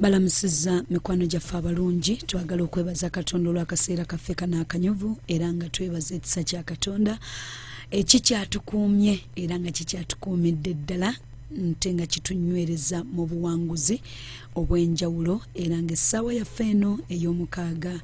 balamusizza mikwano gyaffe abalungi twagala okwebaza katonda olw'akaseera kaffe kano akanyuvu era nga twebaza ekisa kya katonda ekikyatukuumye era nga kikyatukuumidde ddala nte nga kitunywereza mu buwanguzi obw'enjawulo era nga essaawa yaffe eno ey'omukaaga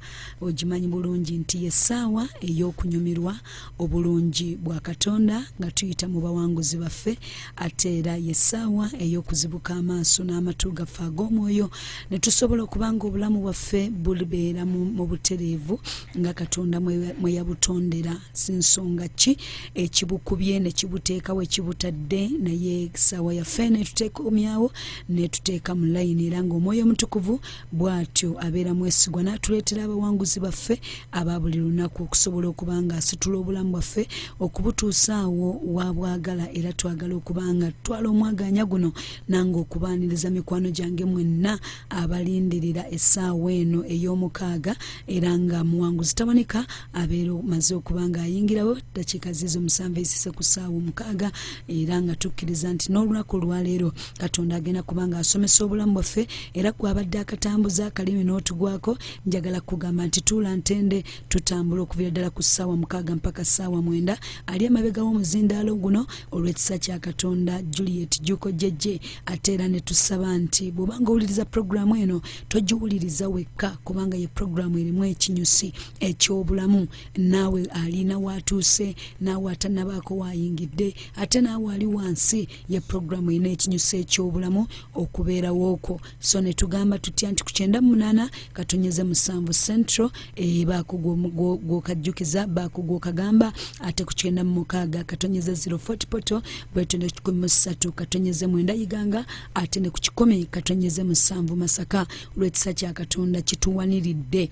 ogimanyi bulungi nti y'essaawa ey'okunyumirwa obulungi bwa katonda nga tuyita mu bawanguzi baffe ate era yessaawa ey'okuzibuka amaaso n'amatu gaffe ag'omwoyo ne tusobola okuba nga obulamu bwaffe bulibeera mu butereevu nga katonda mwe yabutondera si nsonga ki ekibukubye ne kibuteeka we kibutadde naye essaawa yaffe netutekomyawo netuteeka mu layini era ng'omwoyo omutukuvu bw'atyo abeera mwesigwa n'atuleetera abawanguzi baffe aba buli lunaku okusobola okuba nga asitula obulamu bwaffe okubutuusa awo waabwagala era twagala okuba nga tutwala omwagaanya guno nange okubaaniriza mikwano gyange mwenna abalindirira essaawa eno ey'omukaaga era nga muwanguzi taboneka abeera omaze okuba nga ayingirawo ddakiika ziizo musanvu ezise ku ssaawa omukaaga era nga tukkiriza nti n'olunaku olwaleero katonda agenda kuba nga asomesa obulamu bwaffe era kwabadde akatambuza akalimi n'otugwako njagala kugamba nti tuula ntende tutambula okuvira ddala ku ssaawa mukaaga mpaka ssaawa mwenda ali emabega w'omuzindaalo guno olw'ekisa kya katonda juliet juko jejje ate era ne tusaba nti bw'obanga owuliriza puroguramu eno togiwuliriza wekka kubanga ye puroguramu erimu ekinyusi eky'obulamu naawe alina waatuuse naawe atanabaako waayingidde ate naawe ali wansi ye pulogulaamu erina ekinyuso eky'obulamu okubeerawo okwo so ne tugamba tutya nti ku kyenda mu munaana katonyeze musanvu central ebaako eh, gwokajjukiza baako gwokagamba ate ku kyenda mu mukaaga katonyeze zero fort poto bwetyo ne kikumi mu ssatu katonyeze mwenda iganga ate ne ku kikumi katonyeze musanvu masaka olw'ekisa kya katonda kituwaniridde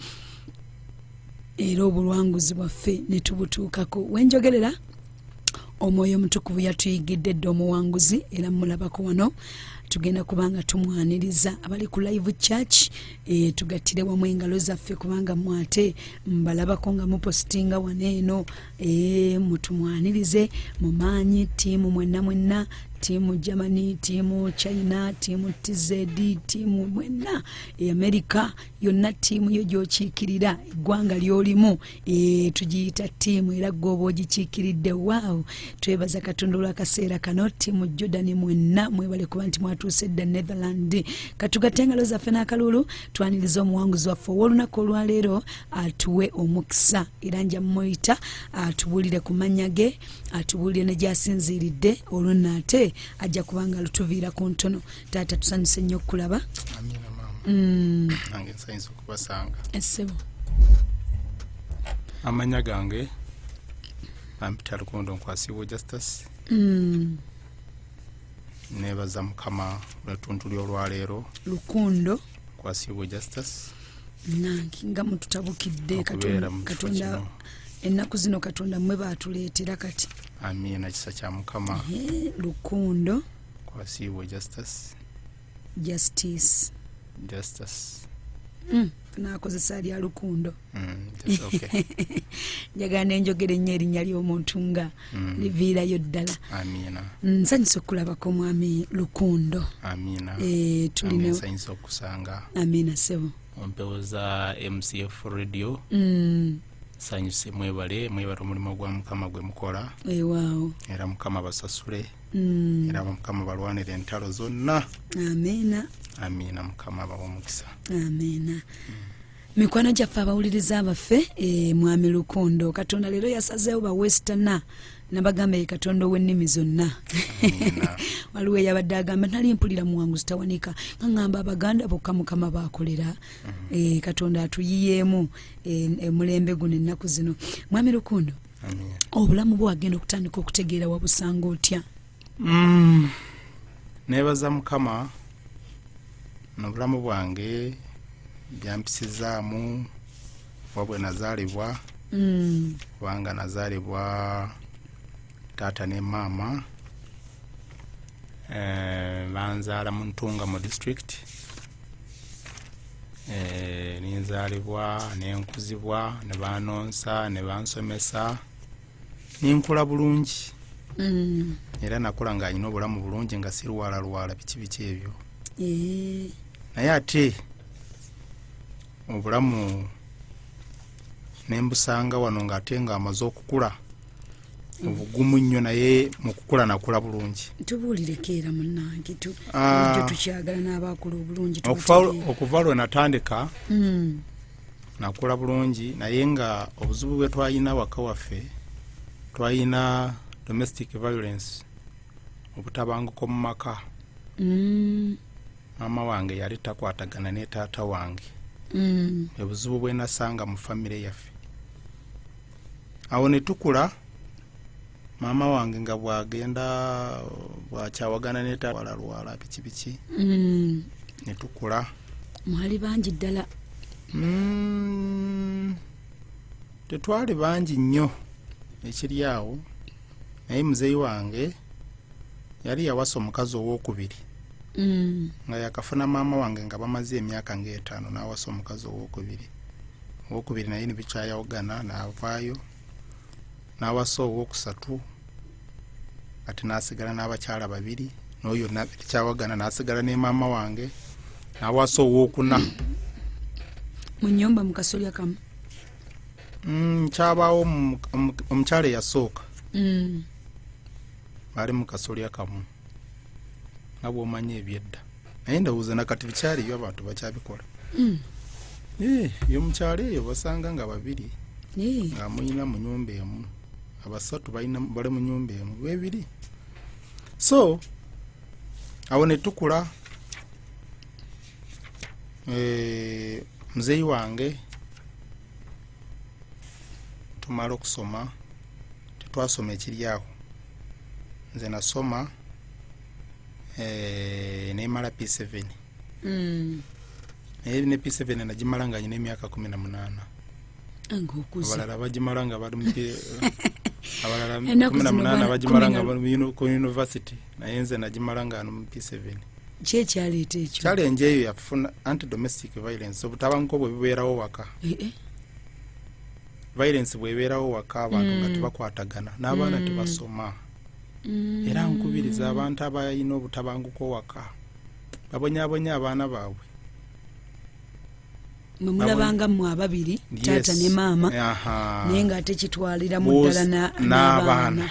era obuwanguzi bwaffe ne tubutuukako wenjogerera omwoyo omutukuvu yatuyigidde dda omuwanguzi era mulabako wano tugenda kubanga tumwaniriza abali ku live church e, tugattire wamu engalo zaffe kubanga mwate mbalabako nga mupositinga wano eno e, mutumwanirize mu maanyi tiimu mwenna mwenna tiimu germany tiimu china tiimu tz tiimu mwenna e america yonna tiimu yo gyokiikirira eggwanga lyolimu Ee, tugiyita ttiimu era gwe oba ogikiikiridde waawo twebaza katonda olw'akaseera kano ttiimu jordan mwenna mwebale kuba nti mwatuuse dda netherland katugatte engalo zaffe n'akalulu twaniriza omuwanguzi waffe ow'olunaku olwaleero atuwe omukisa era nja mumuyita atubuulire ku mannya ge atubuulire ne gyasinziiridde olwo nno ate ajja kuba nga lutuviira ku ntono taata tusanyuse nnyo okukulaba mm. nange nsanyusa okubasanga essebo amanya gange ampita lukondo nkwasiibwa justice mm. nebaza mukama lwetuntu lyolwaleero lukundo nkwasiibwa justice nange nga mututabukidde katonda ennaku zino katonda mwe baatuleetera kati amiina kisa kya mukama lukundo kwasiibwe justice justice justice mm, nakozesa lya lukundo mm, njagala mm, nenjogera ennyo erinnya ly'omuntu nga mm. liviirayo ddala nsanyusa okukulabako mwami lukundo eh, tulinsanyusa okusanga amiina sebo empewo za mcf radio mm. sanyuse mwebale mwebale omulimu gwa mukama gwe mukola ewaawo era mukama basasule mm. era mukama balwanira entalo zonna amiina amiina mukama abawa omukisa amiina mm. mikwano gyaffe abawuliriza abaffe e, mwami lukondo katonda leero yasazeewo bawestana nabagamba ye katonda ow'ennimi zonna waliwo eyabadde agamba nali mpulira muwangu zitawanika ngangamba abaganda bokka mukama bakolera mm-hmm. eh, katonda atuyiyeemu eh, emulembe guno ennaku zino mwami lukundo obulamu bwe wagenda okutandika okutegeera wabusanga otya mm, nebaza mukama nobulamu bwange byampisizaamu oba bwe nazaalibwa mm. kubanga mm. nazaalibwa taata ne maama eh, banzaala mu ntunga mu district eh, ninzaalibwa nenkuzibwa ne banonsa ne bansomesa nenkula bulungi mm. era nakula nga alina obulamu bulungi nga sirwalalwala biki biki ebyo eh. naye ate obulamu nembusanga wano nga ate nga amaze okukula obugumu nnyo naye mukukula nakula bulungi tubuulireko era munange ah. tukyagala n'abaakula obulungi okuva lwe natandika hmm. nakula bulungi naye nga obuzibu bwe twalina waka waffe twalina domestic violence obutabanguko mu maka hmm. maama wange yali takwatagana ne taata wange hmm. ebuzibu bwenasanga mu famire yaffe awo ne tukula maama wange nga bwagenda bwakyawagana netawalalwala biki biki mm. ne tukula mwali bangi ddala mm, tetwali bangi nnyo ekiri awo naye muzeeyi wange yali yawasa omukazi owokubiri mm. nga yakafuna maama wange nga bamaze emyaka ngaetaano nawasa omukazi owokubiri owokubiri naye nebikyayawugana navaayo nawasa owokusatu ati nasigala n'abakyala babiri noyo kyawagana nasigala ne maama wange nawasa owokuna munyumba mukasolya kamu mm, kyabawo omukyala eyasooka mm. bali mukasolya kamu nga bwomanyi ebyedda naye ndowooza nakati bikyaliyo abantu bakyabikola hmm. eh, yo mukyalo eyo basanga nga babiri eh. nga muyina mu nyumba emu abasatu bali mu nyumba emu bebiri so awo netukula eh, muzeeyi wange tumala okusoma tetwasoma ekiri awo nze nasoma eh, nemala p7 Mm. naye ne p7 nagimala nga nyina emyaka kumi na munaana nga okuze abalala bagimala nga bali muki- abalala Ennaku kumi na zino munaana bana- bagimala kumi nga na- bali mu uni- ku university naye nze nagimala nga ano mu p7 ki ekyaleeta ekyo challenge eyo yafuna anti domestic violence obutabanguko bwe bubeerawo waka Eh, eh. violence bwebeerawo waka abantu nga mm. tebakwatagana n'abaana mm. tebasoma mm. era nkubiriza abantu abalina obutabanguko waka babonyabonya abaana baabwe nomulabanga mwe ababiri taata ne maama naye nga ate kitwalira mu ddala n'abaana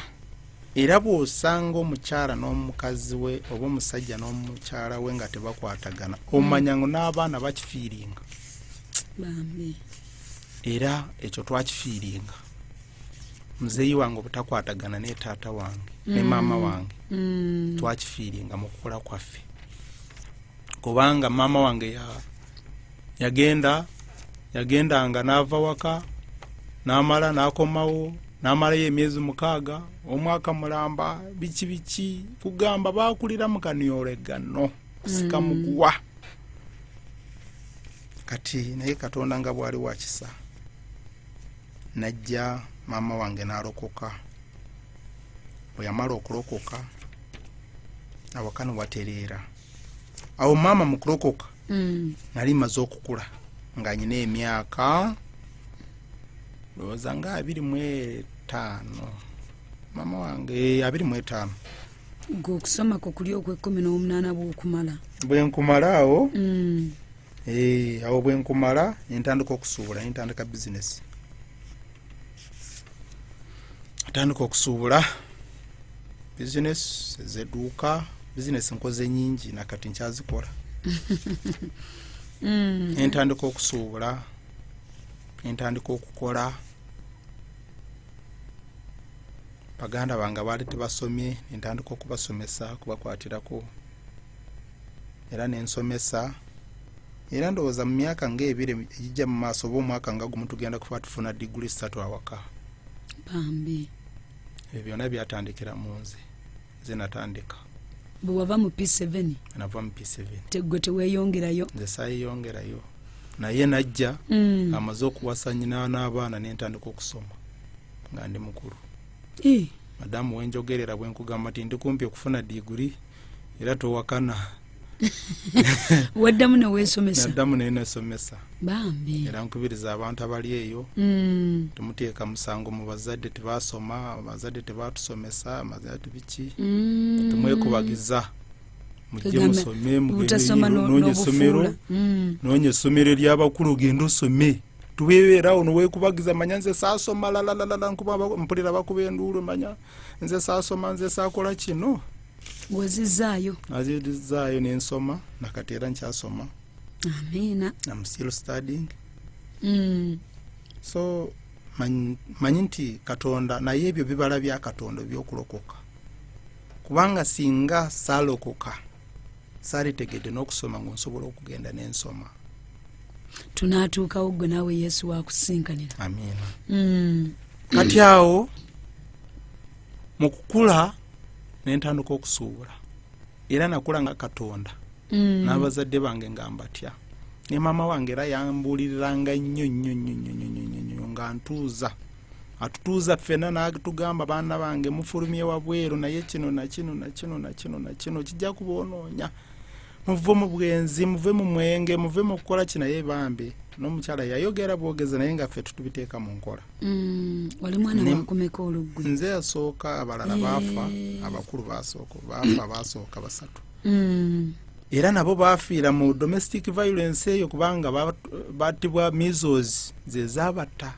era bw'osanga omukyala n'omukazi we oba omusajja n'omukyala we nga tebakwatagana omanya ngo n'abaana bakifiiringa era ekyo twakifiiringa muzeeyi wange obutakwatagana ne taata wange ne mm. maama wange mm. twakifiiringa mu kukula kwaffe kubanga maama wange yagenda yagendanga n'ava waka n'amala n'akomawo n'amalayo emyezi mukaaga omwaka mulamba biki biki kugamba baakulira mu kaniyoregano kusika mm. muguwa mm. kati naye katonda nga bwali wakisa najja maama wange nalokoka bweyamala okulokoka awaka newatereera awo maama mukulokoka mm. nali maze okukula nga nyina emyaka ndowooza nga abiri mu etaano maama wange eh, abiri mu etaano gwe okusoma ku kuli okwekumi n'omunaana bwokumala bwenkumala awo mm. eh, awo bwenkumala nentandika okusuubula nentandika bizinesi atandika okusuubula bizinesi ezeduuka bizinesi nkoze nyingi nakati nkyazikola mm. entandika okusuubula entandika okukola baganda bange abaali tebasomye nentandika okubasomesa kubakwatirako era nensomesa era ndowooza mu myaka nga ebiri egijja mu maaso oba omwaka nga gumu tugenda kuba tufuna diguli satu awaka bambi ebyo byonna byatandikira mu nze nze natandika bwewava mu p7 nava mu p7 tegwe teweyongerayo nze sayeyongerayo naye najja mm. amaze okuwasa nyina n'abaana nentandika okusoma nga ndi mukulu madamu wenjogerera bwenkugamba nti ndi kumpi okufuna diguri era towakana waddamu newesomesa naddamu naye nesomesa bambi era nkubiriza abantu abali eyo mm. temuteeka musango mu bazadde tebasoma abazadde tebatusomesa amazadde biki mm. temwekubagiza mujje musome mugendeyo nonya esomero mm. nonya esomero eryabakulu ogende osome tubeerawo newekubagiza manya nze saasoma lalalalala nkuba mpulira bakuba enduulu manya nze saasoma nze saakola kino wezizaayo azizaayo nensoma nakati era nkyasoma amiina am still studying mm. so manyi nti katonda naye ebyo bibala bya katonda ebyokulokoka kubanga singa salokoka salitegedde n'okusoma ngaonsobola okugenda nensoma tunaatuukawo gwe naawe yesu wakusinkanira mm. kati awo mu kukula nentandika okusuubula era nakula nga katonda mm. n'abazadde bange nga mbatya ne maama wange era yambuuliriranga nnyo nnyo nnyo nnyo nnyo nnyo nnyo nnyo nga ntuuza atutuuza ffena n'atugamba baana bange mufulumye wabweru naye kino nakino nakino nakino nakino kijja kubaonoonya muve mu bwenzi muve mu mwenge muve mu kukola ki naye bambi n'omukyala yayogera bwogeza naye nga ffe tutubiteeka mu nkola mm, wali mwana wakumeka oluggwe nze yasooka abalala eh. baafa abakulu basooka baafa basooka basatu mm. era nabo baafiira mu domestic violence eyo kubanga batibwa misos zezabatta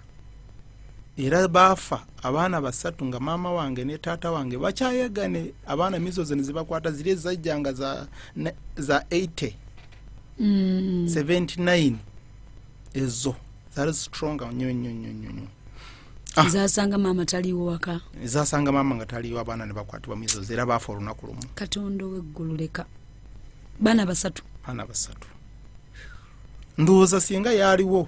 era baafa abaana basatu nga maama wange ne taata wange bakyayagane abaana mizo zene zibakwata ziri ezajjanga za, za 80 mm. 79 ezo zali strong nyo nyo nyo nyo ah. zasanga maama taliwo waka zasanga maama nga taliwo abaana ne bakwatibwa mizo era baafa olunaku lumu katonda oweggulu leka baana basatu baana basatu ndowooza singa yaaliwo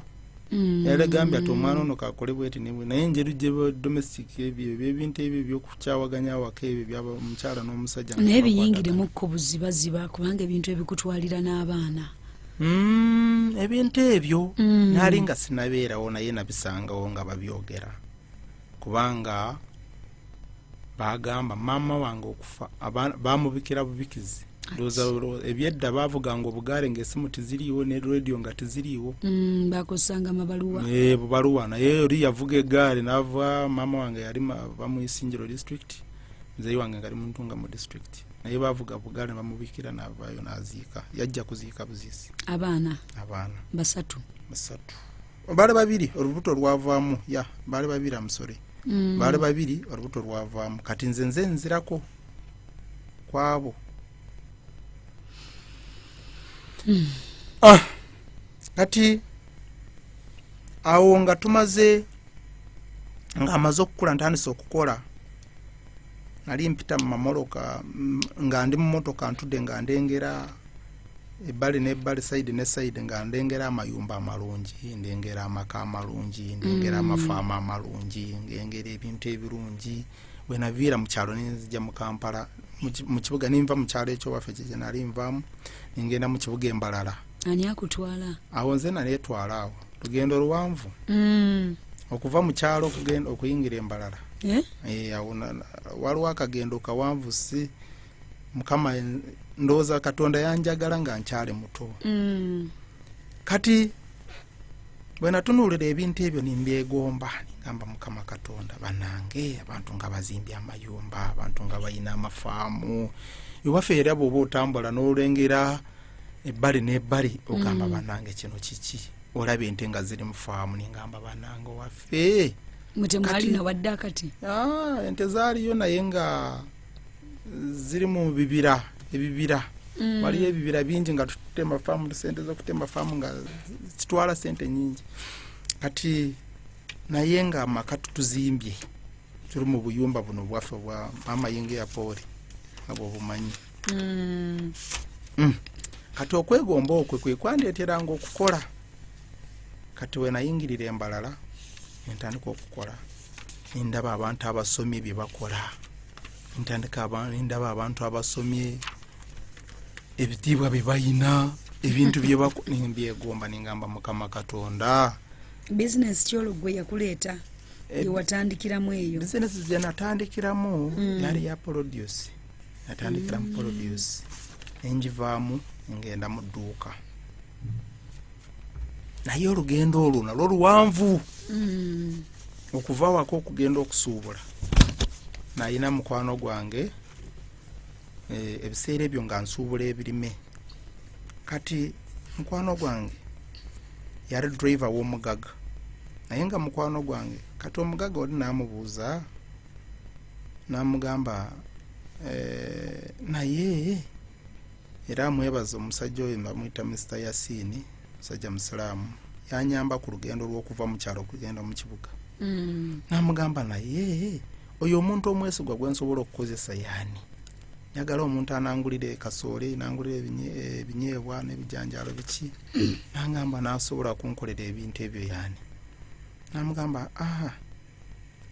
mm. yalegambye ati omwana ono kakole bweti nibwe naye enjeru gyedomestic ebyo ebyo ebintu ebyo ebyokukyawaganya awaka ebyo byaba omukyala n'omusajja naye biyingiremu ko buzibaziba kubanga ebintu ebikutwalira n'abaana mm, ebintu ebyo mm. naali nga sinabeerawo naye nabisangawo nga babyogera kubanga bagamba maama wange okufa bamubikira bubikizi ndowooza ebyedda baavuganga obugaale ng'esimu tiziriiwo ne radio nga tiziriiwo mm, bakozesanga amabaluwa eh, bubaluwa naye oli yavuga egaali naava maama wange yali bamuisingiro district muzeeyi wange ngali muntunga mu district naye bavuga bugaale bamubikira naavaayo naziika yajja kuziika buziisi abaana abaana basatu basatu baali babiri olubuto lwavaamu ya baali babiri amusore mm. baali babiri olubuto lwavaamu kati nze nze nzirako kwabo mm. ah, kati awo nga tumaze nga amaze okukula ntandise okukola nali mpita mu mamoloka nga ndi mumotoka ntude nga ndengera ebbali n'ebbali sayidi ne sayidi nga ndengera amayumba amalungi ndengera amaka amalungi ndengera mm. amafaama amalungi ngengera ebintu ebirungi bwenaviira mu kyalo nenzija mu kampala mu kibuga ninva mu kyalo ekyowaffe kyejenali nvamu nengenda mu kibuga embalala ani akutwala awo nze naleetwala awo lugendo luwanvu mm. okuva mu kyalo okuyingira embalala eh? Eh, waliwo akagendo kawanvu si mukama ndowooza katonda yanjagala nga nkyali muto mm. kati bwenatunuulira ebintu ebyo nimbyegomba nigamba mukama katonda banange abantu nga bazimbye amayumba abantu nga balina amafaamu ewaffe era bwoba otambula n'olengera ebbali n'ebbali ogamba mm. banange kino kiki olaba ente nga ziri mu faamu ningamba banange waffe ah, ente zaaliyo naye nga ziri mu bibira ebibira mm. waliyo ebibira bingi nga tutema faamu sente zokutema faamu nga zitwala sente nyingi kati naye nga amaka tutuzimbye tuli mu buyumba buno bwaffe bwa mama yinga yapooli abwo bumanyi mm. mm. kati okwegomba okwe kwekwandeteranga okukola kati wenayingirira embalala entandika okukola nendaba abantu abasomye byebakola ntandika nendaba abantu abasomye ebitiibwa byebayina ebintu byebyeegomba nengamba mukama katonda bizinesi kyologwe yakuleeta eh, yewatandikiramu eyo bizinesi zenatandikiramu mm. yali ya produce natandikiramu mm. produce nenjivaamu ngenda mu dduuka naye olugendo olwo nalwo luwanvu mm. okuva wako okugenda okusuubula nayina mukwano gwange eh, ebiseera ebyo nga nsuubula ebirime kati mukwano gwange yali driver w'omugaga naye nga mukwano gwange kati omugaga oli namubuuza namugamba eh, naye era amwebaza omusajja oyo nebamuyita mr yasini musajja musiraamu yanyamba ku lugendo lwokuva mu kyalo okugenda mu kibuga mm. namugamba naye oyo omuntu omwesigwa gwensobola okukozesa yaani njagala omuntu anangulira ekasoole nangulira ebinyeebwa n'ebijanjaalo biki nangamba nasobola kunkolera ebintu ebyo yani namugamba aha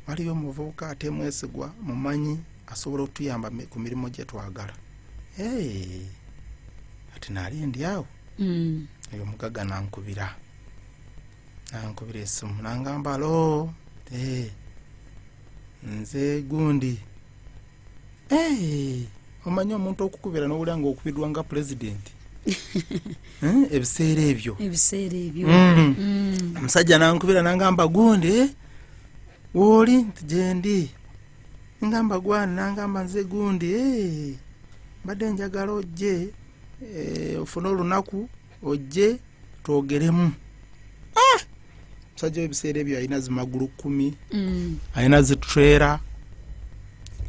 waliyo omuvubuka ate mwesigwa mumanyi asobola okutuyamba ku mirimu gye twagala ati naali ndi awo mm. oyo omugaga nankubira nankubira esimu nangamba lo nze gundi Eh, omanyi omuntu okukubira nowulira nga okubidwa nga pulezidenti eh, ebiseera ebyo ebiseera ebyo mm. Mm. omusajja nankubira nangamba gundi woli nti gyendi ngamba gwani nangamba nze gundi eh, mbadde njagala ojje ofune olunaku ojje twogeremu ah! musajja webiseera ebyo alina zimagulu kumi mm. alina zitrera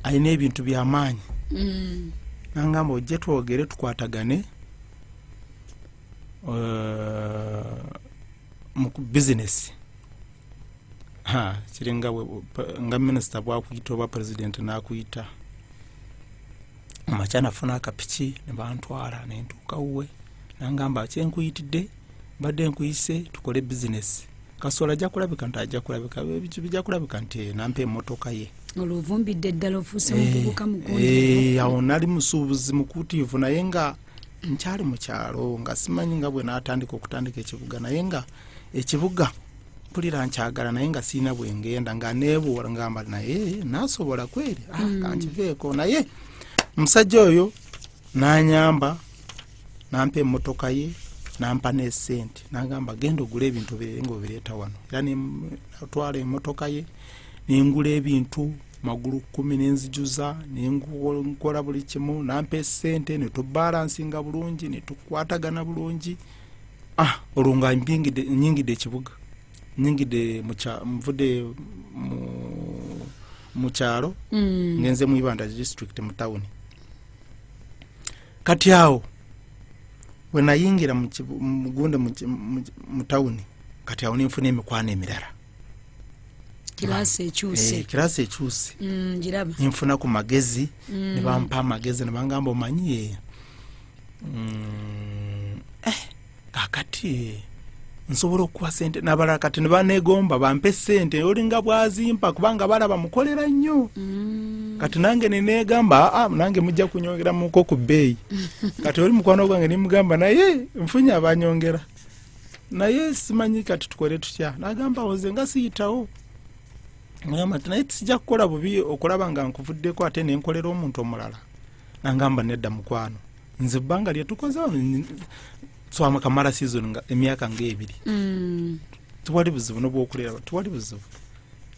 alina ebintu byamaanyi mm. nangamba ojje twogere tukwatagane uh, mu bizinesi kiri nga minisita bwakuyita oba pulezidenti nakuyita amakya nafuna akapiki nebantwala nentuuka wuwe nangamba kyenkuyitidde mbadde nkuyise tukole bizinesi kasola ajja kulabika nti ajja kulabika bijja kulabika nti eh, nampa emotoka ye olwovumbidde ddala ofuuse eh, mukubuka mukulu eh, awo nali musuubuzi mukuutiivu naye nga nkyali mu kyalo nga simanyi nga bwe natandika okutandika ekibuga naye nga ekibuga mpulira nkyagala naye nga sirina bwengenda nga nebuula ngamba naye nasobola kweri ah, mm. kankiveeko naye omusajja oyo nanyamba nampa emotoka ye nampa nesente nagamba genda ogula ebintu bere nga obireeta wano era natwala emotoka ye nengula ebintu magulu kumi nenzijuza nenkola buli kimu nampa esente netubalansinga bulungi netukwatagana bulungi ah olwo nga mpingidde- nyingidde ekibuga nyingidde mu kya- nvudde mu- mu kyalo Mm. ngenze mu ibanda district mu tawuni kati awo wenayingira mu kibu- mu gunde mu ki- mu ki- mu tawuni kati awo nenfuna emikwano emirala kiraasi Eh, ekyuse kirasi ekyuse Mm, giraba nenfuna ku magezi Mm. nebampa amagezi nebangamba omanyi eh, Mm, eh, kakati nsobola okuwa sente nabalala kati nebanegomba bampe sente olinga bwazimpa kubanga balaba mukolera nnyo mm. kati nange nenegamba ah, nange mujja kunyongeramuko ku bbeeyi kati oli mukwano gwange nimugamba naye nfunye abanyongera naye simanyi kati tukole tutya nagamba oze nga siyitawo naye tijja kukola bubi okulaba nga nkuvuddeko ate nenkolera omuntu omulala nangamba nedda mukwano nze ebbanga lyetukoze wano swama kamala season nga emyaka ngaebiri mm. tuwali buzibu nobwokulera tuwali buzibu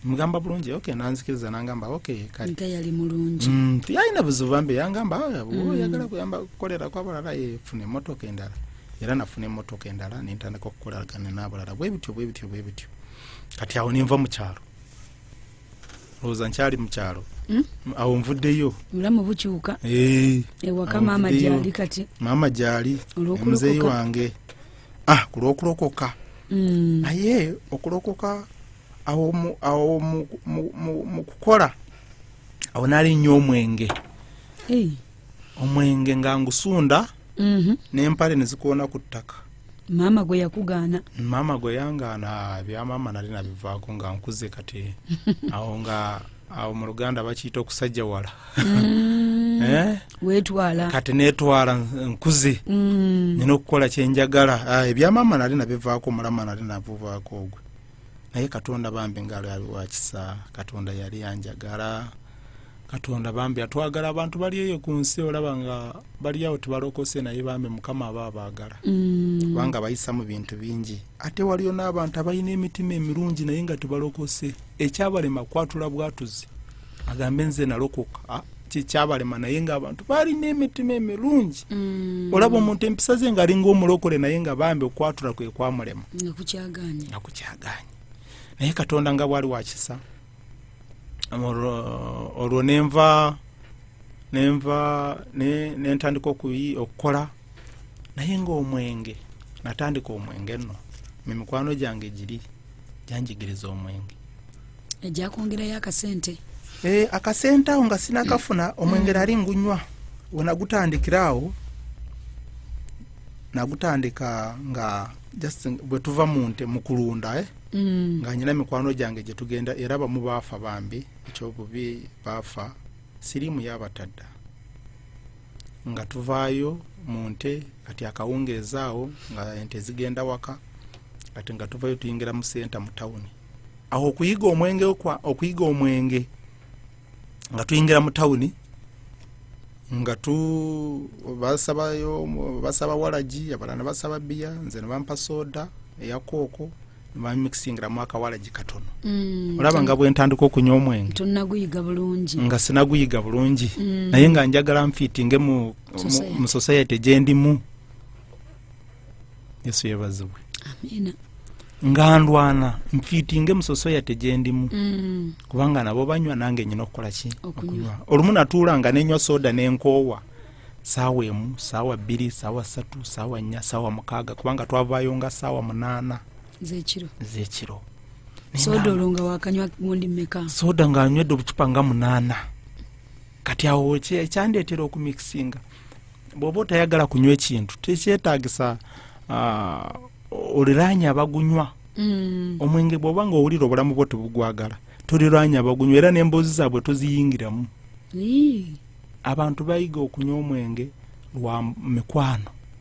mugamba bulungi ok nanzikiriza nangamba ok kayali mulungi mm, tiyalina buzibu bambi yangamba ah, mm. oyagala kuyamba kukolera kwabalala efuna emotoka endala era nafuna emotoka endala nentandika okukoleragana nabalala bwebityo bwebityo bwebityo kati awo ninva mukyalo lowooza nkyali mu kyalo hmm? awo nvuddeyo mulamu bukyuka eh, ewaka maama gyali kati maama gyali omuzeeyi wange ah ku lw'okulokoka hmm. naye okulokoka awo mu kukola awo nali nnyo omwenge omwenge nga ngusunda mhm. n'empale ne zikoona ku ttaka maama gwe yakugaana maama gwe yangaana bya maama nali nabivaako nga nkuze kati awo nga awo mu luganda bakiyita okusajja wala mm. eh? wetwala kati netwala nkuze mm. nina okukola kyenjagala ah, ebya maama nali nabivaako omulama nali navuvaako ogwe naye katonda bambi ngaalo yali wakisa katonda yali anjagala katonda bambi atwagala abantu bali eyo ku nsi olaba nga baliawo tebalokose naye bambi mukama aba abaagala mm. kubanga bayisa mu bintu bingi ate waliyo n'abantu abalina emitima emirungi naye nga tebalokose ekyabalema kwatula bwatuzi agambe nze nalokoka ah, kikyabalema naye nga abantu balina emitima emirungi mm. olaba omuntu empisa ze ngaalinga omulokole naye nga bambi okwatula kwe kwamulema nakukyaganya naye katonda nga bwali wakisa olwo nenva nenva nentandika okukola naye nga omwenge natandika omwenge no mimikwano gyange giri gyanjigiriza omwenge ejja kwongerayo akasente eh, akasente awo nga sinakafuna omwengeri mm. ali ngunywa wenagutandikira awo nagutandika nga just bwetuva mu nte mu kulunda eh? mm. nga nyina mikwano gyange gye tugenda era bamu baafa bambi ekyobubi baafa siriimu yabatadda nga tuvaayo mu nte kati akawungeezi awo nga ente zigenda waka kati nga tuvayo tuyingira mu senta mu tawuni awo okuyiga omwenge okuyiga omwenge nga tuyingira mu tawuni nga tu basabayo basaba walagi abalala basaba biya nze nebampa soda eyakooko bamixingiramu akawalagi katono mm, olaba nga bwentandika okunywa omwenge tonaguyiga bulungi nga sinaguyiga bulungi mm. naye nga njagala nfiitinge mu, mu, mu society gyendimu yesu yebazibwe amiina nga ndwana nfiitinge musosoya tegyendimu Mm. kubanga nabo banywa nange nyina okukola ki Okunywa. olumu natuula nga nenywa soda nenkoowa saawa emu saawa bbiri saawa satu saawa nnya saawa mukaaga kubanga twavaayo nga saawa munaana zekiro ezekiro soda olwo nga wakanywa gundi meka soda ng'anywedde obucupa nga munaana kati awo ekyandeetera okumikisinga bwoba otayagala kunywa ekintu tekyetagisa ah, oliraanya abagunywa mm. omwenge bwoba nga owulira obulamu bwo tebugwagala toliraanya abagunywa era n'emboozi zaabwe toziyingiramu abantu bayiga okunywa omwenge lwa mikwano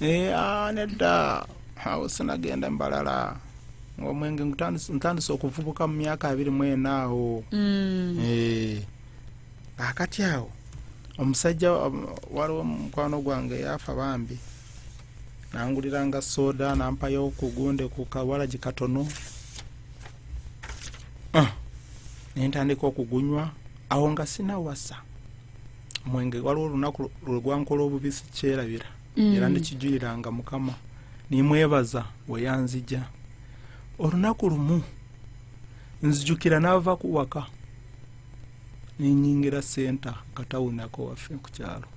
Eh, ah, nedda awo sinagenda mbalala ngaomwenge ntandise okuvubuka mu myaka abiri mwena awo mm. eh, akati awo omusajja um, waliwo mukwano gwange yafa bambi nanguliranga soda nampayo kugunde ku kawalagi katono ah, nentandika okugunywa awo nga sinawasa omwenge waliwo olunaku lwegwankola obubisi kyerabira mm. era ndikijuliranga mukama nimwebaza weyanzija olunaku lumu nzijukira nava kuwaka nenyingira senta katawunako waffe kukyalo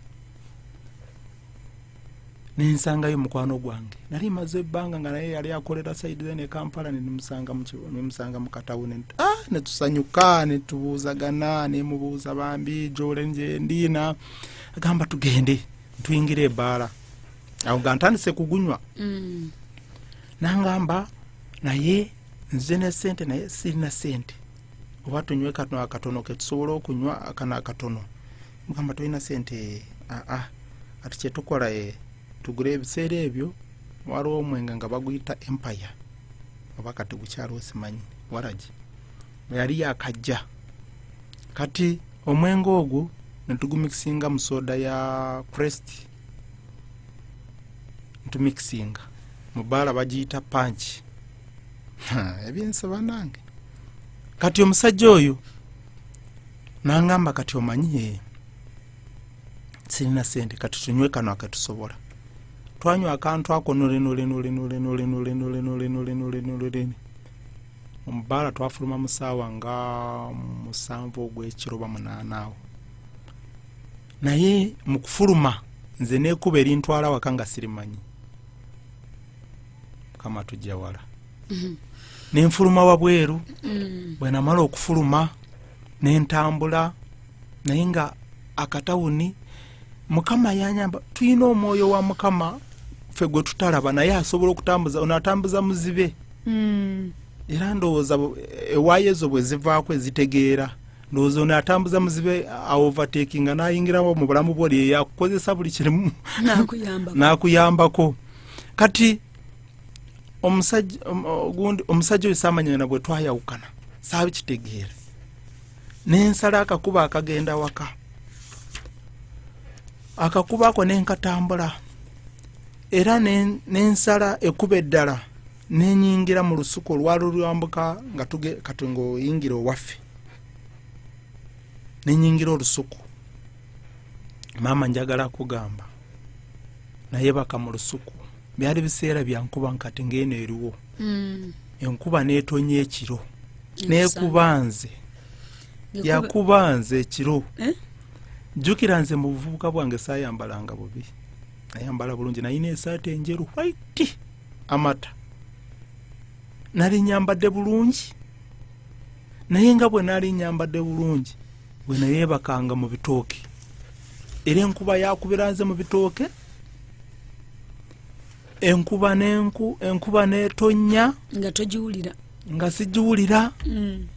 nensangayo mukwano gwange nali maze ebbanga nga naye yali akolera saidire ne kampala nemusanga mukatawune nti ah, netusanyuka netubuuzagana nemubuuza bambi jole njendiina agamba tugende tuyingira ebaala awo nga ntandise kugunywa mm. nangamba naye nze ne sente naye sirina sente oba tunywe kano akatono ketusobola okunywa akano akatono mugamba tolina sente aa ah, ah. ati kyetukola e eh, tugula ebiseera ebyo waliwo omwenga nga baguyita empire oba kati gukyaliwo simanyi waragi yali yakajja kati omwenge ogwo netugumikisinga mu soda ya crest ntumikisinga mu baala bagiyita panki ebyensi banange kati omusajja oyo nangamba kati omanyi ye eh, sirina sente kati tunywe kano aketusobola twanywa akantu ako nolenolenolenolenolenolenolenolenolenolene mu bbaala twafuluma mu saawa nga musanvu ogw'ekiro ba munaana awo naye mu kufuluma nze nekuba erintwala waka nga sirimanyi mukama tujja wala mhm. nenfuluma wabweru mm. bwenamala okufuluma nentambula naye nga akatawuni mukama yanyamba tulina omwoyo wa mukama fe gwe tutalaba naye asobola okutambuza onatambuza muzibe hmm. era ndowooza ewaayo ezo bwe zivaako ezitegeera ndowooza ono atambuza muzibe aovatekinga n'ayingirawo mu bulamu bwo lyeyo akukozesa buli kirimu n'akuyambako kati omusajja gundi omusajja oyo samanyana bwe twayawukana saabi kitegeera nensala akakuba akagenda waka akakuba ako nenkatambula era nensala ekuba eddala nenyingira mu lusuku olwali olwambuka nga kati ngaoyingira owaffe nenyingira olusuku maama njagala kugamba naye baka mu lusuku byali biseera byankuba nkati ngaeno eriwo hmm. enkuba netonya ekiro nekuba nze yakuba nze ekiro eh? jjukira nze mu buvubuka bwange sayambalanga bubi ayambala bulungi nayina esaati enjeru white amata nali nyambadde bulungi naye nga bwe nali nyambadde bulungi bwe nayebakanga mu bitooke era enkuba yakubira nze mu bitooke enkuba nenku enkuba netonya nga togiwulira nga sigiwulira mm.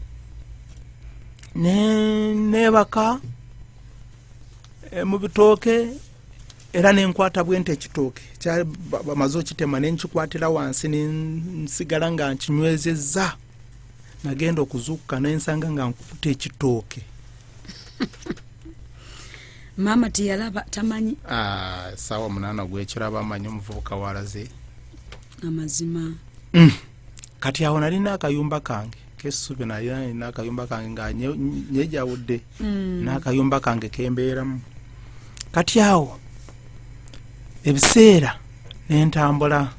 nebaka eh, mu bitooke era nenkwata bwente ekitooke bamaze okitema nenkikwatira wansi nensigala nga nkinywezezza nagenda okuzuukuka nensanga nga nkukuta ekitooke maama teyalaba tamanyi ah, saawa munana gwekiraba amanyi omuvubuka walaze amazima mm. kati awo nalina akayumba kange kesubi naye nalina akayumba kange nga nyejawudde mm. nakayumba kange kembeeramu kati awo ebiseera nentambula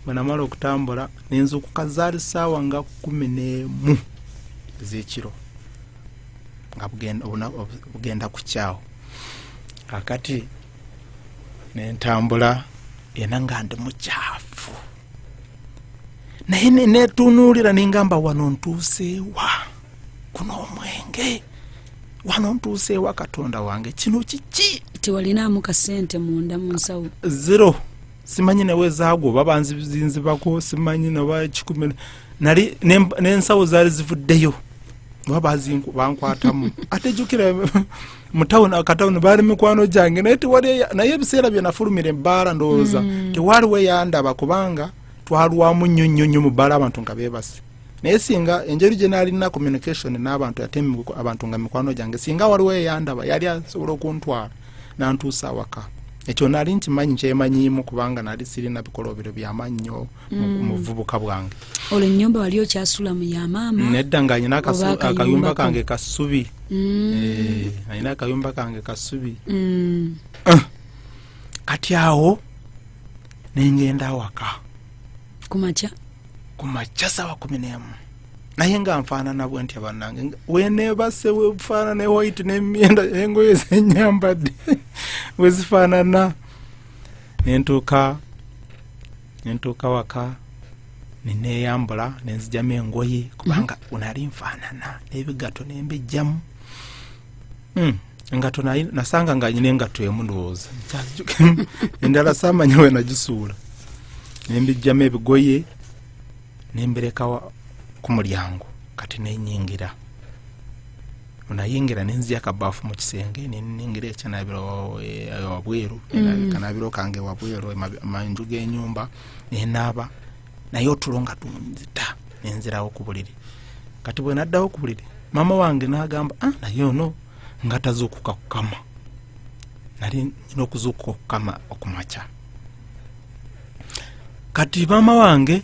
bwenamala okutambula nenzukuka zaali saawa nga kumi nemu ezekiro nga bugenda kukyawo kakati nentambula ena nga ndi mukyafu naye netunuulira nengamba wano ntuuseewa kuno omwenge wano ntuuseewa katonda wange kino kiki tiwalinaamu kasente munda mu nsawo zero simanyi newe zaagwo babanzizinzibako simanyi naba kikumi nali nensawo zaali zivuddeyo oba bazingu bankwatamu ate jukira mutawuni akatawuni baali mikwano gyange naye tewali naye ebiseera byenafulumira ebbaala ndowooza mm. tewaliwo eyandaba kubanga twalwamu nnyo nnyo nnyo mu bbaala abantu nga beebase naye singa enjeri gye naalina communication n'abantu ate abantu nga mikwano gyange singa waliwo eyandaba yali asobola okuntwala nantuusa awaka ekyo nali nkimanyi kyemanyiimu kubanga nali sirina bikolobero byamannyo mm. mubuvubuka bwange olwo enyumba wali okyasula mu ya maama nedda nga alina akayumba kange kasubi mm. eh, alina akayumba kange kasubi mm. ah. kati awo nengenda awaka kumakya kumakya sawa kumi nemu naye nga nfaanana bwe ntya bannange weneebase wefaanana ewhite nemyenda engoye zenyambadde wezifaanana nentuuka nentuuka waka neneeyambula nenzijamu engoye kubanga mm. unali nfaanana n'ebigato nembijjamu mm. engato nasanga nga nyina engato emu ndowooza endala samanya we nagisuula nembijjamu ebigoye nembereka ku mulyango kati nenyingira nayingira nenzia akabafu mu kisenge ningira ekyanabira wabweru mm. kanabiro kange wabweru manju genyumba nenaaba naye otulo nga tunzita nenzirawo ku buliri kati bwe naddawo ku buliri maama wange nagamba ah, naye ono nga tazuukuka kukama nali nina okuzuukuka okukama okumakya kati maama wange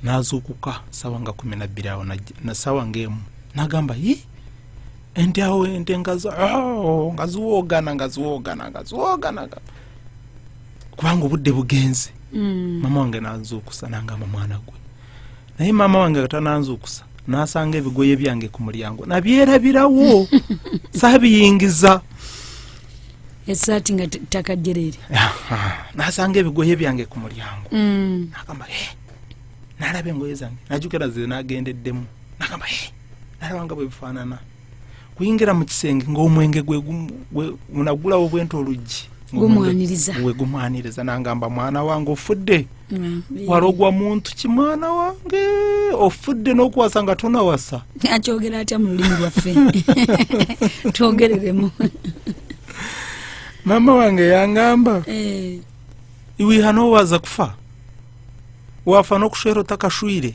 nazuukuka sawa nga kumi nabbiri awo nasawa ngaemu nagamba yi ente awo ente nga oh, ziwogana nga ziwogana nga ziwogana kubanga obudde bugenze mm. mama wange nazuukusa nangamba mwana gwe naye maama wange nga tananzuukusa nasanga ebigoye byange ku mulyango nabyerabirawo sabiyingiza esaati nga ttaka jerere nasanga ebigoye byange ku mulyango mm. nagamba e nalaba engoye zange najukira ze nagendeddemu nagamba e nalaba nga bwebifaanana kuyingira mu kisenge ng'omwenge gwegunagulawo bwenta oluggi gumwaniriza nangamba mwana wange ofudde mm, wala ogwa muntu ki mwana wange ofudde n'okuwasa nga tonawasa akyogera atya mu lulimi lwaffe twogereremu maama wange yangamba eh. iwihanowaza kufa wafa n'okushwera otakashwire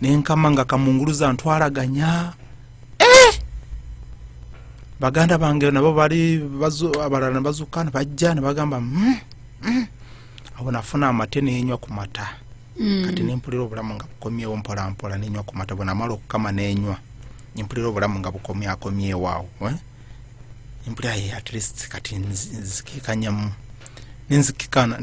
nenkama nga kamunguluza ntwalaganya eh! baganda bange nabo bali abalala nebazuka nebajja nebagamba mm, mm. awo nafuna amate nenywa ku mata mm. kati nempulira obulamu nga bukomyewo mpolampola nenywa ku mata bwenamala okukama nenywa nempulira obulamu nga bukomyakomyewo awo eh? nempulira ye at least kati nzikikanyamu nenzikikana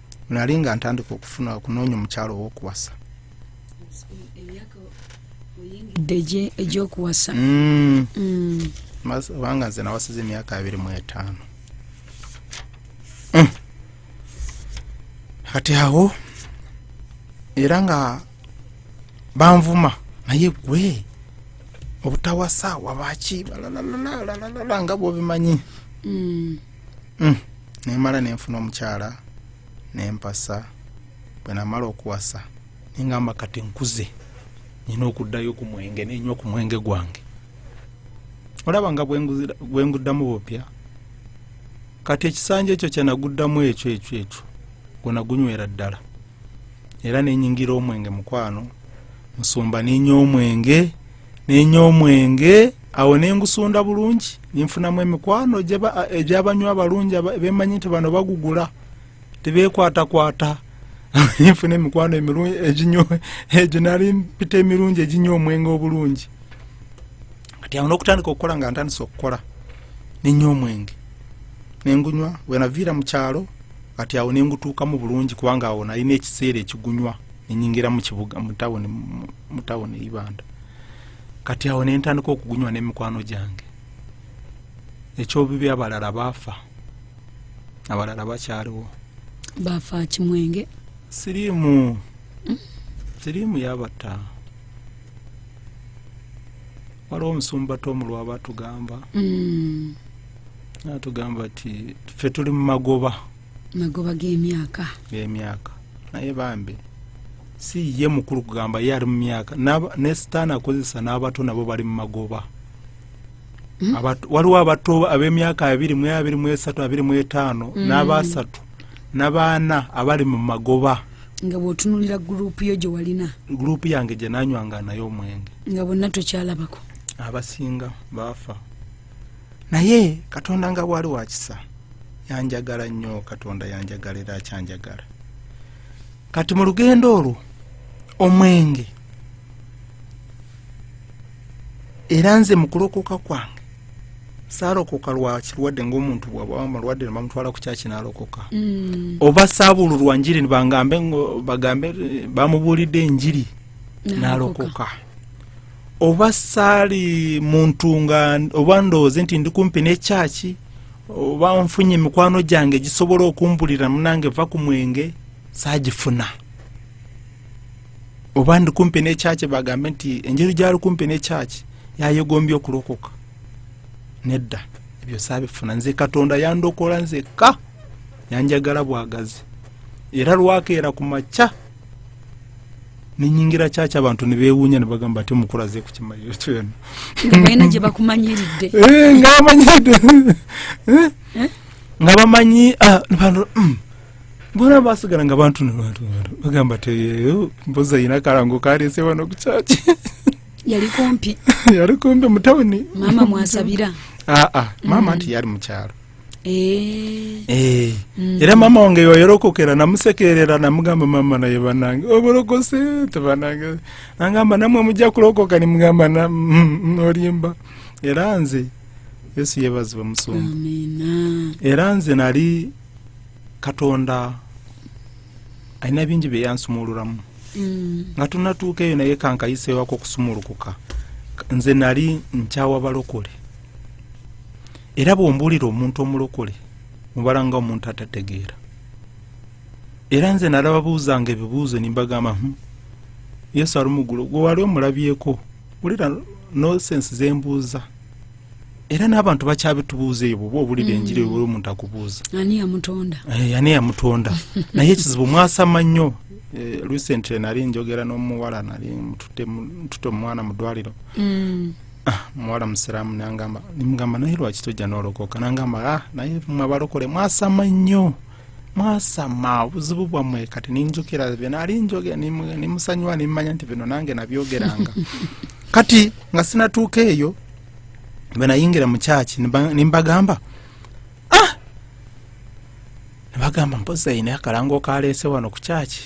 nali nga ntandika okufuna okunoonya omukyalo owokuwasa egyokuwasa mm. mm. kubanga nze nawasiza emyaka abiri mu etaano mm. kati awo era nga banvuma naye gwe obutawasa wabaki nga bwobimanyi mm. nemala nenfuna omukyala nempasa bwenamala okuwasa nengamba kati nkuze nina okuddayo ku mwenge nenywa ku mwenge gwange olaba nga bwenguddamu bupya kati ekisanja ekyo kyenaguddamu ekyo ekyo ekyo gwenagunywera ddala era nenyingira omwenge mukwano nsumba nenya omwenge nenya omwenge awo nengusunda bulungi ninfunamu emikwano egyabanywa abalungi bemanyi nti bano bagugula tebekwatakwata ninfuna emikwano emirungi eginyo egyo nali mpita emirungi eginywa omwenge obulungi kati awo nokutandika okukola nga ntandisa okukola ninywa omwenge nengunywa wenaviira mu kyalo kati awo nengutuukamu bulungi kubanga awo nalina ekiseera ekigunywa nenyingira mu kibuga mu tawuni mu tawuni eibanda kati awo nentandika okugunywa nemikwano gyange ekyobibi abalala baafa abalala bakyaliwo baafa kimwenge siriimu hmm? siriimu yabatta waliwo omusumba tomu lwaba atugamba hmm. atugamba ti fe tuli mu magoba magoba g'emyaka g'emyaka naye bambi si ye mukulu kugamba ye ali mu myaka ne sitaani akozesa n'abato nabo bali mu magoba hmm? waliwo abato ab'emyaka abiri mu abiri mu esatu abiri mu etaano hmm. n'abaasatu n'abaana abali mu magoba nga bwotunulira gurupu yo gye walina gurupu yange gye nanywanga nayo omwenge nga bonna tokyalabako abasinga baafa naye katonda nga bwali wakisa yanjagala nnyo katonda yanjagala era akyanjagala kati mu lugendo olwo omwenge era nze mu kulokoka kwange saalokoka lwakirwadde ngaomuntu bwabamulwadde nebamutwala ku kyaki naalokoka mm. oba saabululwa njiri nibangambe bagambe bamubuulidde enjiri naalokoka oba saali muntu nga oba ndowooze nti ndi kumpi n'ekyaki oba nfunye emikwano gyange egisobola okumbulira munange va ku mwenge saagifuna oba ndi kumpi n'ekyaki bagambe nti enjeri gyali kumpi n'ekyaki yayegombye okulokoka nedda ebyo saabifuna nze katonda yandokola nzekka yanjagala bwagazi era lwakeera ku makya nenyingira kyaki abantu nebewunya nebagamba ati omukulaze kukimaliro kyona ngabalina gyebakumanyiridde eh, nga bamanyiridde eh? eh? nga bamanyi ah, mm. bona basigala nga bantu nabantu bagamba teyeyo mboza yina kalango kalese wano kukyaki yali kumpi yali kumpi mutawuni mama mwasabira aa ah, ah. mama mm. nti yali mukyalo Eh. Eh. Mm. era mama wange wayorokokera namusekerera namugamba mama naye banange oborokose tebanange nangamba namwe mujja kulokoka nimugamba nolimba mm, mm, era nze yesu yebazibwe musumba era nze nali katonda alina bingi byeyansumuluramu mm. nga tunatuuka eyo naye kankayisewako okusumulukuka nze nali nkyawa balokole era bwombuulira omuntu omulokole mubala nga omuntu atategeera era nze nalababuuzanga ebibuuzo nimbagamba hmm, yesu ali mugulu gwe wali omulabyeko wulira nosensi zembuuza era n'abantu bakyabitubuuza eyo bwoba obulira mm. enjiri oli omuntu akubuuza ani yamutonda eh, naye ekizibu mwasama nnyo eh, recently nali njogera n'omuwala nali ntute omwana mu ddwaliro mm. Ah, muwala musiraamu nangamba nimugamba naye lwaki tojja nolokoka nangamba ah, naye mwe abalokole mwasama nnyo mwasama obuzibu bwammwe kati ninjukira byenali njoge nimusanyuwa nimmanya nti bino nange nabyogeranga kati nga sinatuuka eyo bwenayingira mu kyaki nimbagamba ah! nibagamba mpozi ayina akalango kaleese wano ku kyaki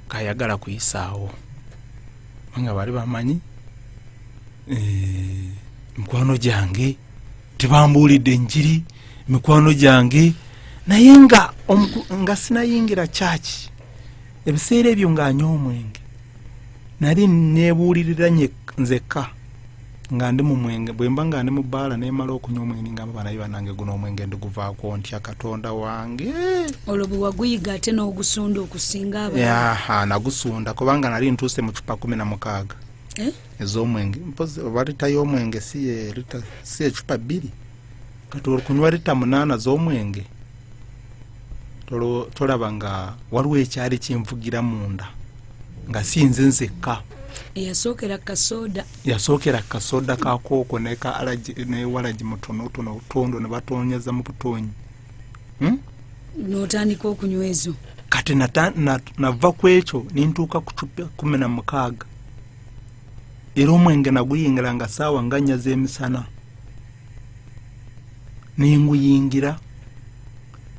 kayagala kuyisaawo nga bali bamanyi eh, mikwano gyange tebambuulidde enjiri mikwano gyange naye nga nga sinayingira kyaki ebiseera ebyo ng'anywa omwenge nali nebuulirira nzekka nga ndi mu mwenge bwemba nga ndi mu bbaala nemala okunywa omwenge ningamba banaye banange guno omwenge ndiguvaako ntya katonda wange olwo bwewaguyiga ate n'ogusunda okusinga aha nagusunda kubanga nali ntuuse mu cupa kumi na mukaaga eh? ez'omwenge mpozi oba lita y'omwenge si ecupa bbiri kati olikunywa lita munaana z'omwenge tolaba nga waliwo ekyali kinvugira munda nga sinze nzekka yasookera kasoda yasookera kasoda kakooko newalagi mutonotono obutondo nebatonyeza mu butonyi hmm? notandika okunywa ezo kati nava ku ekyo nintuuka ku cupa kumi na mukaaga era omwenge naguyingira nga saawa nga nya z'emisana nenguyingira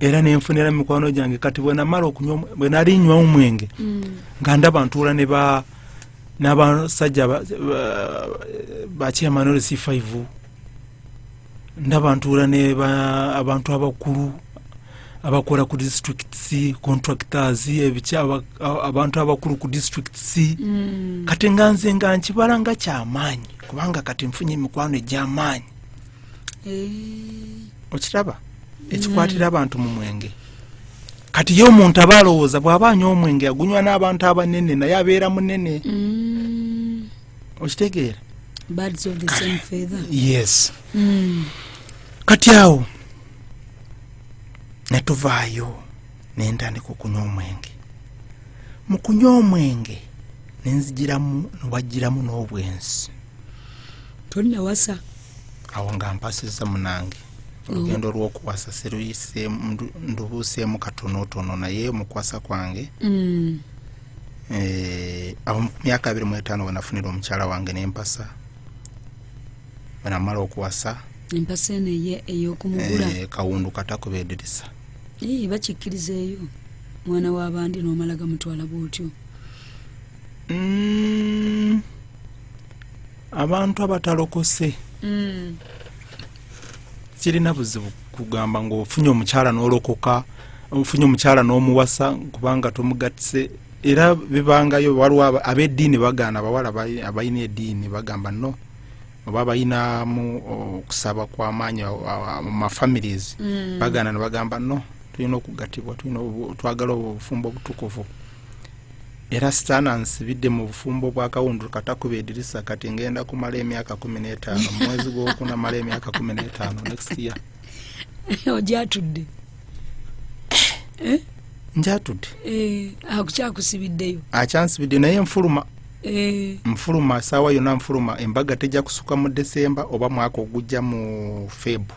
era nenfunira mikwano gyange kati bwenamala okunywa bwenali nywa omwenge mm. nga ndaba ntuula ne ba n'abasajja bakyemanole c five ndaba ntuula ne abantu abakulu abakora ku districts contractors ebiki abantu abakulu ku districts mm. kati nga nze nga nkibala nga kyamaanyi kubanga kati nfunye emikwano egyamaanyi hey. Eh. okiraba ekikwatira mm. abantu mu mwenge kati ye omuntu aba alowooza bw'aba anywa omwenge agunywa n'abantu abanene naye abeera munene mm. okitegeera yes mm. kati awo ne tuvaayo ne ntandika okunywa omwenge mu kunywa omwenge ne nzijiramu newajjiramu n'obwenzi tonnawasa awo nga mpasizza munange olugendo lwokuwasa siruyise ndubuuseemu katonotono naye mukwasa kwange mm. eh, awo mu myaka abiri mu etaano wenafunira omukyala wange nempasa bwanamala okuwasa empasa eno eye eyokumugula eh, kawundu katakubedirisa ii bakikkiriza eyo mwana wabandi nomala gamutwala bwotyo mm, abantu abatalokose mm. kirina buzibu kugamba ngaofunye omukyala nolokoka ofunye omukyala nomuwasa kubanga tomugatise era bibangayo waliwo abediini bagaana abawala abalina ediini bagamba no oba bayinamu okusaba kwamaanyi mu mafamilies mm. bagana nebagamba no tulina okugatibwa twagala obwo obufumbo obutukuvu era sitaana nsibidde mu bufumbo bwa kawundulu katakuba edirisa kati ngenda kumala emyaka kumi n'etaano mu mwezi gwokuna mala emyaka kumi n'etaano next year ojatudde eh? njatudde eh, akukyakusibiddeyo akyansibidde naye nfuluma Eh. nfuluma saawa yonna nfuluma embaga tejja kusuka mu desemba oba mwaka ogujja mu febu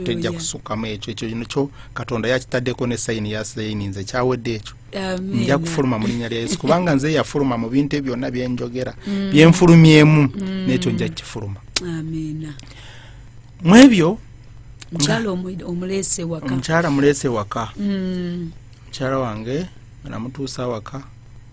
tejja kusukamu ekyo ekyo kyo katonda yakitaddeko ne sayini ya sayini nze kyawedde ekyo nja kufuluma mu linnya lya yesu kubanga nze yafuluma mu bintu ebyo byonna byenjogera mm. byenfulumyemu mm. n'ekyo nja kukifuluma mu ebyo omukyala muleese waka mm. mukyala wange namutuusa awaka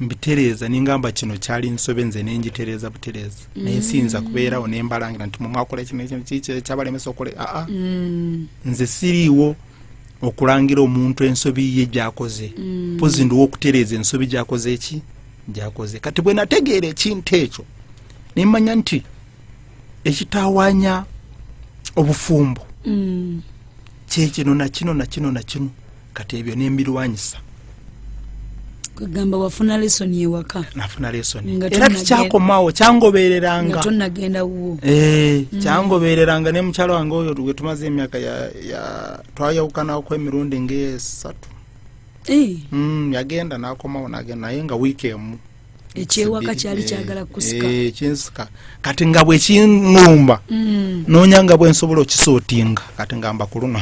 mbitereeza nengamba kino kyali nsobe nze nengitereeza butereeza mm. naye siyinza kubeerawo nembalangira nti mumwakola kino kino kiki kyabalemesa okola aa mm. nze siriiwo okulangira omuntu ensobi ye gyakoze mm. pozi ndiwo okutereeza ensobi gyakoze eki gyakoze kati bwe nategeera ekintu ekyo nemanya nti ekitawanya obufumbo mm. kyekino nakino nakino nakino kati ebyo nembirwanyisa kwegamba wafuna lesoni ewaka nafuna lesoni era tikyakomawo kyangobereranga tonagenda wuwo eh, mm. kyangobereranga ne mukyalo wange oyo wetumaze emyaka twayawukanaku emirundi ngaesatu eh. mm, yagenda nakomawo nagenda naye nga wiiki emu ekyewaka kyali eh, kyagala kusikakyinsika kati nga bwekinumba mm. nonya nga bwensobola okisootinga kati ngamba kuluno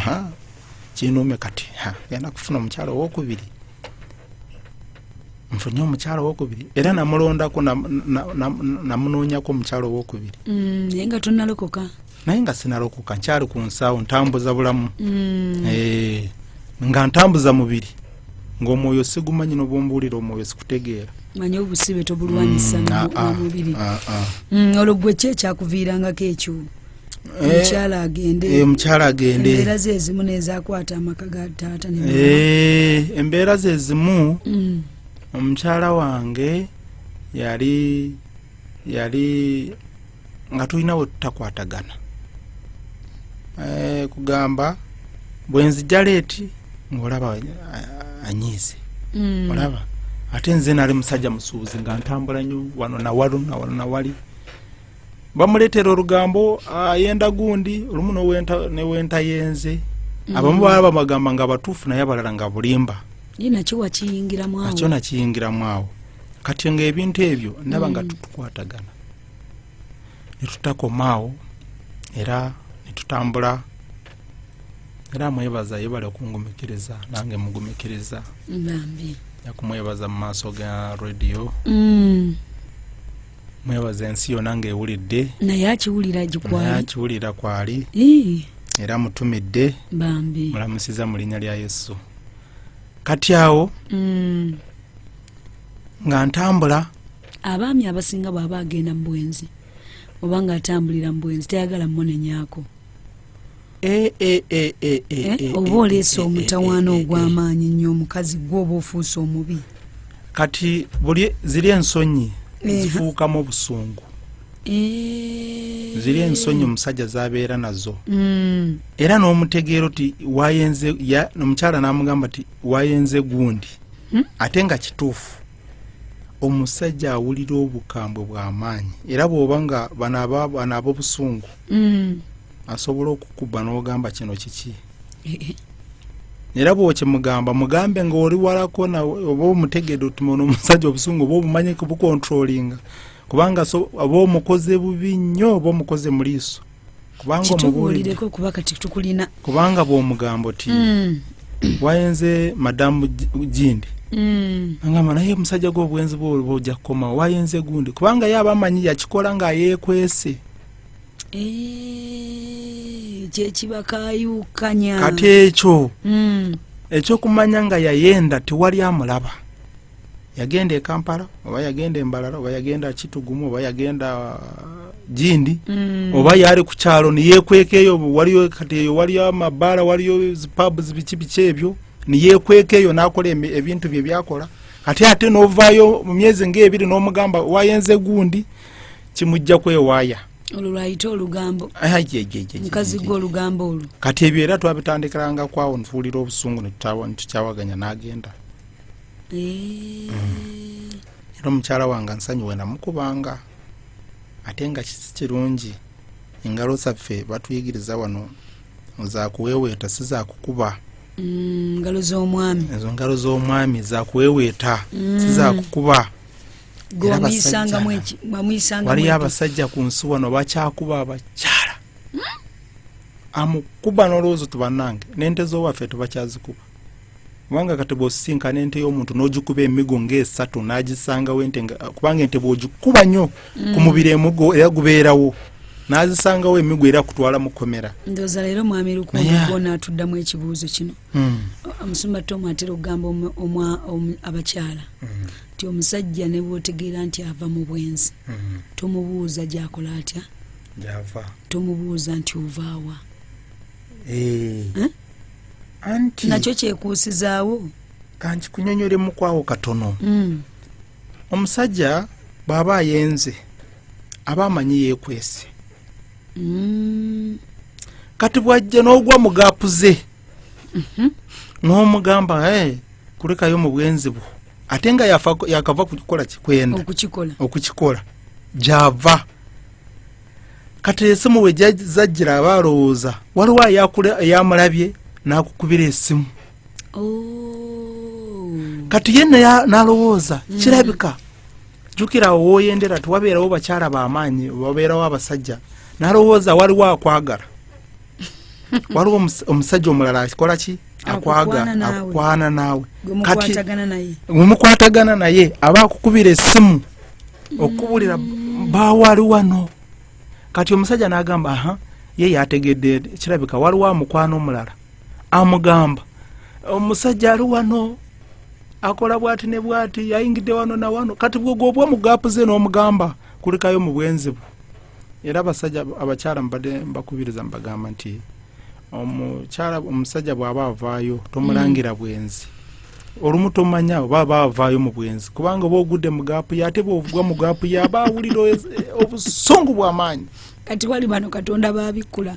kinume kati genda kufuna omukyalo owokubiri nfunye omukyalo owokubiri era namulondako namunoonyako omukyalo owokubiri mm, naye nga tonalokoka naye nga sinalokoka nkyali ku nsaawo ntambuza bulamu mm. eh, nga ntambuza mubiri ngaomwoyo sigumanyi nobwombuulira omwoyo sikutegeera manya obusibe tobulwanyisa mm, ah, ah, mubiri ah, mm, olwo gwe ki ekyakuviirangako ekyo Eh, omukyala agende eh, omukyala agende embeera zezimu nezakwata amaka ga taata eh, embeera zezimu mm. omukyala wange yali yali nga tulina we tutakwatagana kugamba bwenzija leeti ngaolaba anyiize mm. olaba ate nze nali musajja musuubuzi nga ntambula nyo wano nawalo nawalo nawali bamuleetera olugambo ayenda gundi olumu newentayenze mm. abamu baba bamagamba nga batuufu naye abalala nga bulimba nakyo nakiyingiramu awo kati nga ebintu ebyo ndaba nga mm. tutukwatagana netutakomaawo era netutambula era mwebaza yebale okungumikiriza nange mugumikiriza nyakumwebaza mu maaso ga rediyo mm. mwebaza ensi yona nga ewulidde naye akiwulira gikwali akiwulira kwali era mutumidde bambi mulamusiza mu linnya lya yesu kati awo mm. nga ntambula abaami abasinga bwaba agenda mu bwenzi oba nga atambulira mu bwenzi tayagala munenyako Eh, eh, eh, oba oleese omutawaana ogw'amaanyi nnyo omukazi gwe oba ofuuse omubi kati buli ziri ensonyi zifuukamu obusungu ziri ensonyi omusajja zabeera nazo mm. era n'omutegeero ti wayenze omukyala n'amugamba ti wayenze gundi hmm? ate nga kituufu omusajja awulira obukambwe bw'amaanyi era bw'oba nga bano ab'obusungu mm. asobola okukubba n'ogamba kino kiki era bwokimugamba mugambe nga oli walako oba omutegede otumono omusajja obusungu oba obumanyi bukontrolinga kubanga oba omukoze bubi nnyo oba omukoze mu liiso kubanga bwomugamba oti mm. wayenze madamu gindi mm. angamba naye omusajja gwe obwenzi bwolba ojja kukomawo wayenze gundi kubanga ye aba amanyi yakikola nga yekwese eh, kyekibakayukanya kati ekyo hmm. ekyokumanya nga yayenda tewali amulaba yagenda ekampala oba yagenda embalala oba yagenda kitugumu oba yagenda jindi mm. oba yali ku kyalo neyekwekeeyo waliyo kati eyo waliyo amabaala waliyo zipabs biki biki ebyo neyekwekeeyo nakola ebintu bye byakola kati ate novaayo mu myezi ngaebiri nomugamba wayenze gundi kimujja kwewaaya olwo lwayita olugambo mukazi gwe olugambo olwo kati ebyo era twabitandikiranga kwawo ntuwulira obusungu netukyawaganya n'agenda eh. mm. era omukyala wange nsonyiwe namukubanga ate nga kisi kirungi engalo zaffe batuyigiriza wano zakuweweeta si zakukuba mm, ngalo z'omwami ezo ngalo z'omwami zakuweweeta si mm. zakukuba waliyo abasajja ku nsi wano bakyakuba abakyala hmm? amukuba n'olowoozo tubanange n'ente z'owaffe tubakyazikuba kubanga kati bwosisinkana n'ente y'omuntu n'ogikuba emigo ng'esatu n'agisangawo ente kubanga ente bw'ogikuba nnyo hmm. ku mubiri emugo era gubeerawo n'azisangawo emigo era kutwala mu kkomera ndooza leero mwami lukuona atuddamu ekibuuzo kino hmm. omusumba tomu atera okugamba abakyala ti omusajja ne bwotegeera nti ava mu bwenzi mm-hmm. tomubuuza gyakola atya gyava tomubuuza nti ovaawa eh. eh? anti nakyo kyekuusizaawo kankikunyonyole mukwawo katono mm. omusajja bw'aba ayenze aba amanyi yeekwese mm. kati bwajja n'ogwa mu gaapu ze mhm. n'omugamba eh, kulekayo mu bwenzi bwo ate nga yakava kukola kikwenda okukikola gyava kati esimu we zajjira aba alowooza waliwo eyamulabye n'akukubira esimu oh. kati ye nalowooza mm. kirabika jukira awo woyendera tiwabeerawo bakyala bamaanyi wabeerawo abasajja nalowooza waliwo akwagala waliwo omusajja omulala akikola ki akwaga akukwana naawe kati wemukwatagana naye aba akukubira esimu okukubulira mm. bawali wano kati omusajja nagamba aha ye yategedde kirabika waliwo amukwana omulala amugamba omusajja ali wano akola bwati ne bwati yayingidde wano na wano kati bwegobwa mugapu ze n'omugamba kulikayo mu bwenzi bwo era abasajja abakyala mbadde mbakubiriza mbagamba nti omukyala omusajja bw'aba avaayo tomulangira mm. bwenzi olumu tomanya oba aba avaayo mu bwenzi kubanga oba ogudde mu gaapu ye ate bwovugwa mu gaapu ye aba awulira obusungu bw'amaanyi kati wali bano katonda babikkula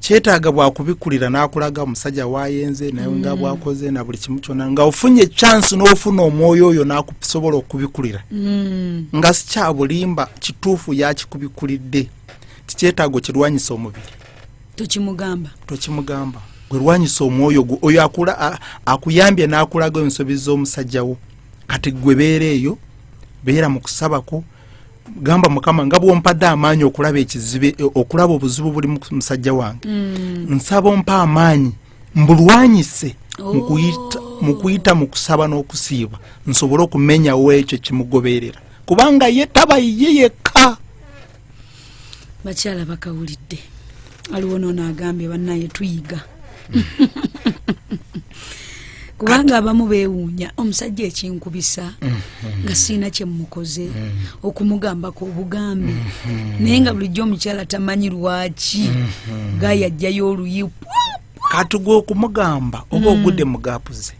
kyetaaga bwakubikulira n'akulaga omusajja wayenze naye nga mm. bwakoze na buli kimu kyona nga ofunye chansi n'ofuna omwoyo oyo nakusobola okubikulira mm. nga sikyabulimba kituufu yakikubikulidde kikyetaago kirwanyisa omubiri tokimugamba tokimugamba gwerwanyisa omwoyo gwo oyo akuyambye n'akulaga ensobi z'omusajja wo kati gwe beera eyo beera mu kusabako gamba mukama nga bwompadde amaanyi okulaba ekizibe okulaba obuzibu buli musajja wange mm. nsaba ompa amaanyi mbulwanyise mukuyita oh. mu kusaba n'okusiiba nsobole okumenyawo ekyo kimugoberera kubanga ye taba ye yekka bakyala bakawulidde aliwo nono agambye banaye tuyiga kubanga abamu bewuunya omusajja ekinkubisa mm-hmm. nga siina kyemukoze mm-hmm. okumugambako obugambi mm-hmm. naye nga bulijjo omukyala tamanyi lwaki gayajjayo oluyi katugwa okumugamba oba mm. ogude mugapuze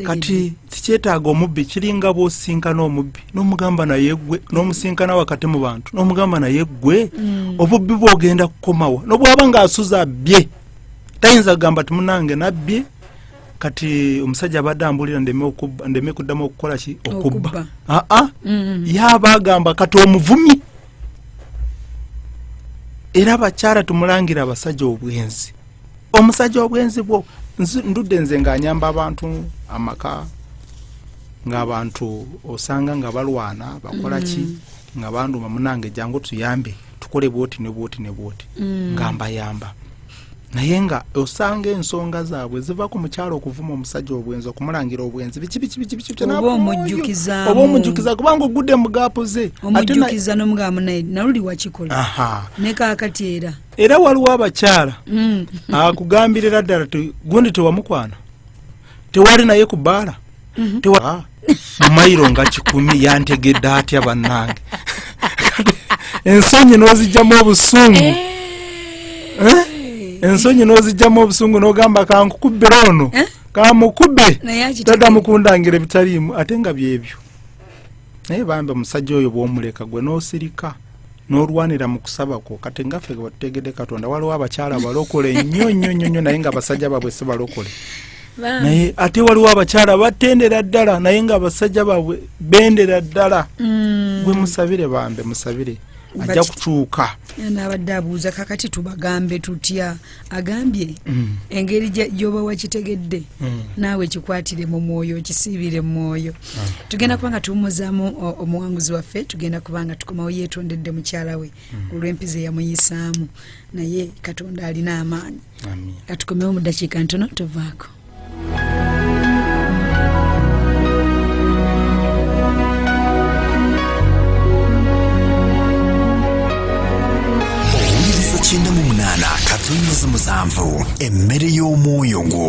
kati tikyetaaga omubbi kiringa bwosinkana omubbi nomugamba naye gwe nomusinkana wakati mu bantu nomugamba naye gwe mm. obubbi bwogenda kukomawa nobwaba nga asuza abbye tayinza kugamba timunange nabbye kati omusajja abadde ambulira ndeme kuddamu okukola ki okubba aa mm. yaba agamba kati omuvumi era abakyala tumulangira abasajja obwenzi omusajja obwenzi bwo ndudde nze ng'anyamba abantu amaka ng'abantu osanga nga balwana bakola ki mm. nga banduma munange jangu tuyambe tukole bwoti ne bwoti ne bwoti mm. nga mbayamba naye nga osanga ensonga zaabwe ziva ku mukyalo okuvuma omusajja obwenzi okumulangira obwenzi biki biki biki biki oba omujjukiza kubanga ogudde mu gaapu ze omujjukiza n'omugamu naye naluli wakikola ne kaakati era era waliwo abakyala mm. akugambirira ddala gundi tewamukwana tewali naye ku bbaala mhm. ah, mairo nga kikumi yantegedde atya bannange ensonyi n'ozijjamu obusungu eh. Eh? ensonyi n'ozijjamu obusungu n'ogamba kankukubbira ono eh? kamukube dada mukundangira ebitaliimu ate nga byebyo naye bambi omusajja oyo bwomuleka gwe nosirika nolwanira mu kusaba kwo kati nga ffe tutegedde katonda waliwo abakyala balokole nnyo nnyo nnyo nnyo naye nga abasajja baabwe si balokole naye ate waliwo abakyala batendera ddala naye nga abasajja baabwe bendera ddala mm. gwe musabire bambe musabire ajja kukyuka nabadde abuuza kakati tubagambe tutya agambye mm. engeri gyoba wakitegedde mm. naawe kikwatire mu mwoyo okisiibire mu mwoyo ah. tugenda kuba nga tuwumuzaamu omuwanguzi waffe tugenda kuba nga tukomawo yeetondedde mukyala we mm. olw'empiza eyamuyisaamu naye katonda alina amaanyi katukomewo mu ddakiika ntono tovaako owuliriza kyenda mu munaana katonnyeza musanvu emmere y'omwoyo gwo